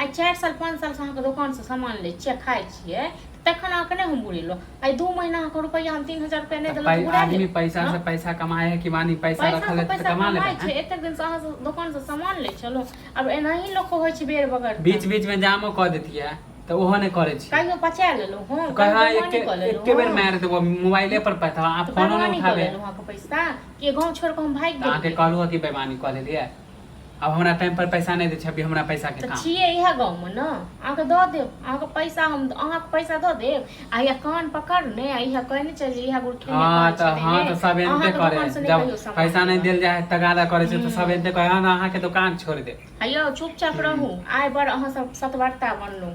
आइ चारि साल पाँच सालसँ अहाँके दोकानसँ सामान लै छियै खाइ छियै तखन अहाँके नहि हम बुरेलहुँ आइ दू महीना अहाँके रुपैआ हम तीन हजार रुपैआ नहि देलहुँ पै- बुरा आदमी लेब। पैसा से पैसा कमाए है कि मानी पैसा पैसा रखल है तऽ पैसा कमा लेबै कमाइ छै हैं? एतेक दिनसँ अहाँ दोकानसँ सामान लै छलहुँ आब एनाही लोक होइ छै बेर बगर बीच बीच में जामो कऽ देतियै तऽ ओहो नहि करै छी कहियो पचा लेलहुँ हँ कहियो कहा बेमानी एके कऽ लेलहुँ एके बेर हँ। मारि देबो मोबाइले पर पता अहाँ तऽ फोनो नहि बेमानी कऽ उठाबे लेलहुँ अहाँके पैसा कि गाँव छोड़ि कऽ हम भागि तऽ अहाँके गेलियै कहलहुँ कि बेमानी कऽ लेलियै अब हमरा टाइम पर पैसा नहीं दे छे अभी हमरा पैसा के काम छिए इहा गांव में ना आके के द दे आहा के पैसा हम आहा के पैसा द दे आ या कान पकड़ ने आ इहा कह ने चल जे इहा गुड़ खेने हां तो हां तो सब एते करे जब पैसा नहीं देल जाए तगादा करे छे तो सब एते कहे ना आहा के दुकान छोड़ दे हयो चुपचाप रहू आय बर आहा सब सतवर्ता बनलो